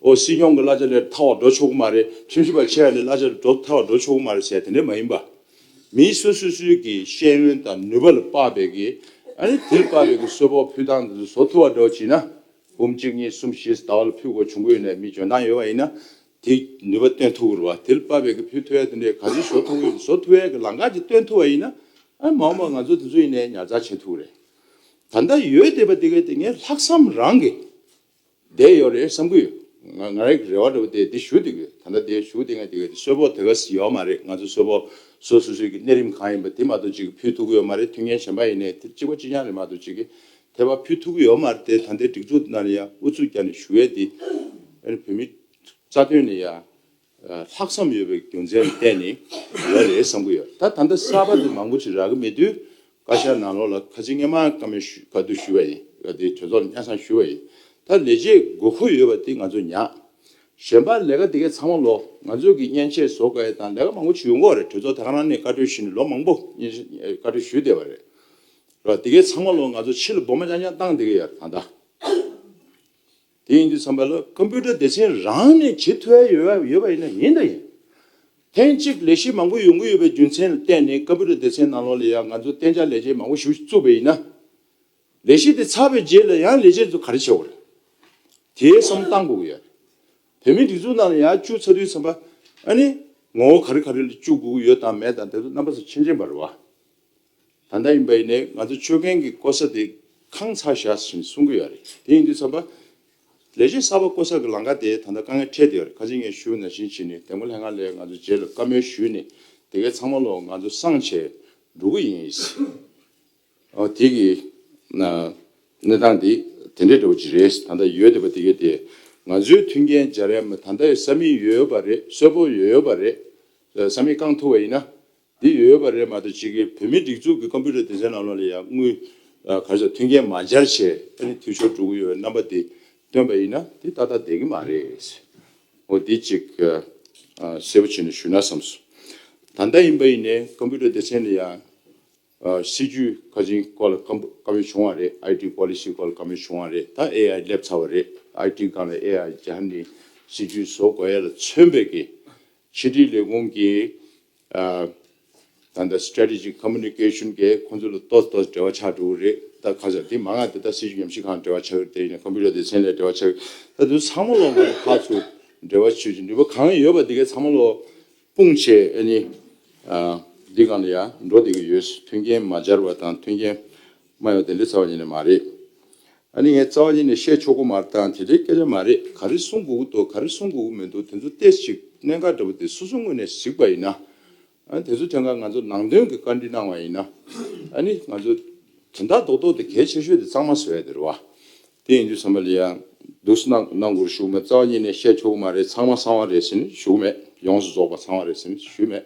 ཨོ་སྲིད་སྐྱོང་གི་གླ་ཆ་ལས་ཐར་བ་འགྲོ་ཆོག་གི་མ་རེད་ཁྲིམས་ཞིབ་པ་ཆེ་ཡ་ལས་གླ་ཆ་ལས་འགྲོ་ཐར་བ་འགྲོ་ཆོག་གི་མ་རེད་ཟེར་དེ་འདྲ་མ་ཡིན་པ། མིའི་སོ་སོ་སོའི་གི་ཤེས་ཡོན་དང་ནུས་པ་ལ་དཔག་པའི་གི་ཨ་རེ་དེ་ལ་དཔག་པའི་གི་སོས་པོ་ཕུལ་ཐང་དེ་ཚོ་བཟོ་ཐུབ་བ་འགྲོ་བྱིན་ན་འབུམ་གཅིག་གཉིས་གསུམ་བཞིས་ད་བ་ལ་ཕུལ་གོ་བྱུང་གོ་ཡོད་ནས་མི་འཇོན་ཐང་ཡོད་བ་ཡིན་ན་དེ་ནུས་པ་སྟོན་ཐུབ་གི་རེད་བ་དེ་ལ་དཔག་པའི་གི་ཕུལ་ཐུབ་ཡ་དེ་འདྲ་ག་ཚོད་བཟོ་ཐུབ་གི་ཡོད་བཟོ་ཐུབ་ཡ་གི་ལང་ཀ་ཅིག་སྟོན་ཐུབ་བ་ཡིན་ན་ཨ་མ་འོང་པ་ང་ཚོ་དེ་ཚོ་ཡིན་ནས་ཉར་ཚགས་བྱེད་ཐུབ་གི་རེད། ད་ལྟ་ཡོད་བསྡད་པ་དེ་གའི་སྟེང་ནས་ལྷག་བསམ་རང་གིས་བསྡད་ཡོད་རེད་བསམ་གི་ཡོད། ང་རང་གིས་རེ་བ་འདྲ་བོ་དེ་དེ་ཞུ་དགོས་ཡོད་ད་ལྟ་དེ་ཞུ་དེ་སྔ་དེ་གའི་གསོལ་ཕོགས་དེ་ག་ཟིན་ཡོད་མ་རེད་ང་ཚོ་གསོལ་ཕོགས་སོ་སོ་སོའི་གི་གནས་རིམ་གང་ཡིན་པ་དེ་མ་གཏོགས་ཅིག་གི་ཕུལ་ཐུག་གི་ཡོད་མ་རེད་མཐུན་རྐྱེན་གཞན་པ་ཡིན་ནའི་དེ་གཅིག་པ་གཅིག་རྐྱང་རེད་མ་གཏོགས་ཅིག་གི་དེ་བ་ཕུལ་ཐུག་གི་ཡོད་མ་རེད་དེ་ད་ལྟའི་སྒྲིག་འཛུགས་དེ་ན་ནས་ཡང་ཨུ་ཚུགས་རྒྱག་ནས་ཞུ་ཡོད་དེ། ཨ་རི་བོད་མི་རྩ་དོན་ནས་ཡང། ལྷག་བསམ་ཡོད་པའི་རྒྱུ་མཚན་གཏན་ནས་ཡོད་རེད་བསམ་གི་ཡོད། ད་ད་ལྟ་གསར་པ་དེ་མང་པོ་ཞིག་རག་གི་མེད་དུས་བཀའ་ཤག་ནང་ལོག་ལ་ཁ་ཆེ་ངེ་མ་ཀ་མེད་ཞུ་ག་དུ་ཞུ་བ་ཡིན། ག་དེ་གྲོས་ཚོགས་ལ་སྙན་སང་ཞུ་བ་ཡིན། ད་ལས་བྱེད་དགོས་མཁོ་ཡོད་པ་དེ་ང་ཚོ་ཉག། གཞན་པ་ལས་ཀ་དེ་གས་ཚང་མ་ལོག་ང་ཚོས་གི་སྙན་ཆས་བཟོ་ག་ཡས་དང་ལས་ཀ་མང་པོ་ཞུ་མགོ་རེད་གྲོས་ཚོགས་ད་ག་རང་ནས་བཀའ་གྲོས་ཞུ་ནས་ལོ་མང་པོ་སྙན་ཆས་བཀའ་གྲོས་ཞུ་བསྡད་པ་རེད། ར་དེ་གས་ཚང་མ་ལོག་ང་ཚོ་ཕྱི་ལ་སྦོ་མ་ཅང་ཅང་བཏང་དེ་གས་ཡ་རེད་ད་ད། དེ་ཡིན་དུས་བསམ་པ་ལ་ཀོམ་པུ་ཏར་སྡེ་ཚན་རང་ནས་བྱེད་ཐུ་ཨེ་ཡོད་ཡོད་པ་ཡིན་ན་ཡིན་དང་ཡིན། ཐེངས་གཅིག་ལས་གཞི་མང་པོ་ཡོང་གི་ཡོད་པའི་རྒྱུ་མཚན་ལ་བརྟེན་ནས་ཀོམ་པུ་ཏར་སྡེ་ཚན་ནང་ལོགས་ལ་ཡང་ང་ཚོ་གཏན་འཇགས་ལས་བྱེད་མང་པོ་ཞུགས་བཅུག་པ་ཡིན་ན། ལས་གཞི་དེ་ཚར་བའི་རྗེས་ལ་ཡང་ལས་བྱེད་ཚོ་ག་རེ་བྱེད་དགོས་རེད། དེའི་བསམ་བཏང་དགོས་ཀྱི་ཡོད། བོད་མིའི་སྒྲིག་འཛུགས་ནང་ལ་ཡང་བཅུག་ཚར་དུས་བསམ་པ་ཨ་ནི། ངོ་བོ་ག་རེ་ག་རེ་ལ་བཅུག་དགོས་ཀྱི་ཡོད་དང་མེད་དང་དེ་ཚོ་རྣམ་པ་ཚོ་ཕྱིན་ཅི་མ་རུང་བ། ད་ལྟ་ཡིན་པ་ཡིན་ནའི་ང་ཚོ་སྤྱོད་མཁན་གྱི་ལྐོ་ས་དེ་ཁང་ཚ་བཞག་བཞིན་གསུང་གི་ཡོད་རེད་དེ་ཡིན་དུས་ཚབ་པ། ལས་བྱེད་གསར་པ་བསྐོ་ས་གི་ལང་ཀ་དེ་ད་ལྟ་དཀའ་ངལ་འཕྲད་བསྡད་ཡོད་རེད་ཁ་ཆེ་ངས་ཞུ་ན་བཞིན་བྱས་ནས་དེ་མགོ་ལྷད་ང་ལས་ང་ཚོ་རྗེས་ལ་བཀའ་མོལ་ཞུས་ནས་དེ་གའི་ཚང་མ་ལོ་ང་ཚོ་སང་བྱས་འགྲོ་གི་ཡིན། ཨོ་དེ་གི་གནས་སྟངས་དེ་དེ་འདྲས་འདྲ་བོ་ཅིག་རེད་ད་ལྟ་ཡོད་བསྡད་པ་དེ་གའི་དེ་ང་ཚོའི་མཐུན་རྐྱེན་སྦྱར་ཡ་མ་ད་ལྟ་ཡོད་ས་མིག་ཡོད་པ་རེད་གསོལ་པོ་ཡོད་པ་རེད་ས་མིག་རྐང་ཐུག་བ་ཡིན་ན་འདི་ཡོད་པ་རེད་མ་གཏོགས་ཕྱི་རྒྱལ་བོད་མིའི་སྒྲིག་འཛུགས་ཀྱི Computer སྡེ་ཚན་ནང་ལོགས་ལ་ཡང་དངུལ་ག་ཚོད་ཐོན་མཁན་མ་འཆར་ཆེད་ད་ནི་འཐུས་ཤོར་འགྲོ་གི་ཡོད་པའི་རྣམ་པ་དེ་སྟོན་པ་ཡིན་ན་དེ་ཏག་ཏག་བསྡད་ཀྱི་མ་རེད། འོ་འདི་ཅིག་གསལ་པོ་བྱས་ནས་ཞུས་ན་བསམས་སོང། ད་ལྟ་ཡིན་པ་ཡིན་ནའི Computer སྡེ་ཚན་ལ་ཡང་སྲིད་ཇུས་ག་ཅིག་སྐོར་ལ་དཀའ་མོལ་བྱུང་བ་རེད IT Policy སྐོར་ལ་དཀའ་མོལ་བྱུང་བ་རེད་ད AI སླེབས་ཚར་བ་རེད IT སྒང་ལ AI སྦྱར་ནས་སྲིད་ཇུས་བཟོ་དགོས་ཡ་ལ་མཚོན་པའི་གི་ཕྱི་དྲིལ་ལས་ཁུངས་ཀྱི་ད་ལྟ Strategic Communication གིས་ཁོ་ཚོ་ལ་ལྟོས་ལྟོས་འབྲེལ་བ་ཆགས་འགྲོ་གི་རེད་ད་ཁ་ཟེར་དེ་མ་ང་ད་ལྟ་སྲིད་ཇུས་ཉམས་ཞིབ་ཁང་འབྲེལ་བ་ཆགས་ཡོད་དེ་ཡིན་ན Computer སྡེ་ཚན་ལས་འབྲེལ་བ་ཆགས་ཡོད་ད་དུས་ཚང་མ་ལོ་ང་རོ་ཁག་ཚོ་འབྲེལ་བ་བྱེད་ཀྱི་འདུག་པ་གང་ཡོད་པ་དེ་གས་ཚང་མ་ལོ་དཔུང་བྱས་ཨེ་ནི། འདི་གང་ལ་ཡང་འགྲོ་བསྡད་ཀྱི་ཡོད་མཐུན་རྐྱེན་མ་སྦྱར་བ་དང་མཐུན་རྐྱེན། སྨྲ་ཡོད་དེ་འདྲའི་རྩ་བ་ཉིད་ནས་མ་རེད། ཨ་ནི་ངས་རྩ་བ་ཉིད་ནས་བཤད་ཆོག་གོ་མ་རྟང་དེ་འདྲའི་སྐད་ཆ་མ་རེད་ག་རེ་གསུང་དགོས་ཀི་འདུག་ག་རེ་གསུང་དགོས་ཀི་མི་འདུག་དེ་ཚོ་ལྟས་ཤིག་གནད་འགག་འདྲ་པོ་དེ་སོ་སོ་ངོས་ནས་གཟིགས་པ་ཡིན་ན། དེ་ཚོ་ཐད་ཀར་ང་ཚོར་ནང་དོན་གི་བཀའ་འདྲི་གནང་བ་ཡིན་ན། ཨ་ནི་ང་ཚོ་དོན་དག་རྡོག་རྡོག་དེ་གལ་ཆེ་ཤོས་དེ་གཙང་མ་བཟོ་ཡ་དེ་རེད་བ། དེ་ཡིན་དུས་བསམ་པ་ལི་ཡང་འདུག་སི་ནག་ནང་སྒོར་ཞུགས་མེད་རྩ་བ་ཉིད་ནས་བཤད་ཆོག་གི་མ་རེད་ཚང་མ་ཚང་བ་རེད་ཟེར་ནི་ཞུ་གི་མེད་ཡོངས་སུ་རྫོགས་པ་ཚང་བ་རེད་ཟེར་ནི་ཞུས་མེད།